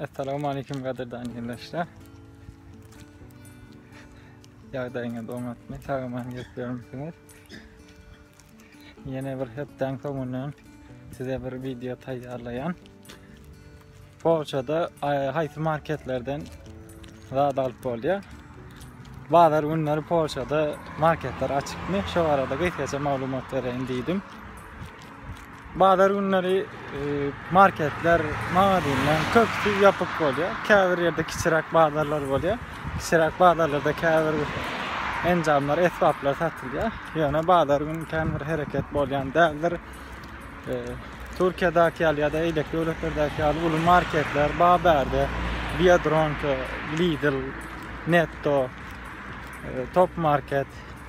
Assalamu aleykum gadirdan gençler. Ýagdaýyňyz oňatmy? Sagaman geçýärmisiňiz? Ýene bir hepden soňundan size bir video taýýarlaýan. Polçada haýsy marketlerden zat alyp bolýar? Bazar günleri Polçada marketler açykmy? Şu arada gysgaça maglumat bereýin diýdim. Bazar günleri marketler, magazinler köpüsi ýapyk bolýar. Käbir ýerde kiçiräk bazarlar bolýar. Kiçiräk bazarlarda käbir enjamlar, esbaplar satylýar. Ýöne bazar günü kän bir hereket bolýan däldir. Türkiýedäki ýaly ýa-da eýleki döwletlerdäki ýaly uly marketler, Baberde, Biodronka, Lidl, Netto, Top Market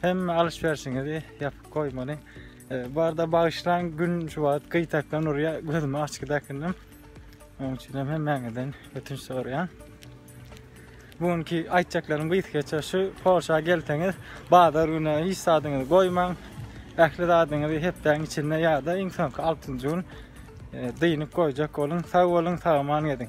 Hemme alyş-berşiňizi ýapyp goýmalyň. Barda bagyşlaň, gün şu wagt gyýtakdan urýar, gözümi açyk dakynnym. Onuň üçin hem hemmäňizden ötünç soraýan. Bu günki aýtjaklarym gysga geçer. Şu Porsche gelseňiz, bazar güni hiç zadyňyzy goýmaň. Ähli zadyňyzy hepdäň içinde ýa-da iň soňky 6-njy gün e, dynyp goýjak boluň. Sag boluň, sag aman gediň.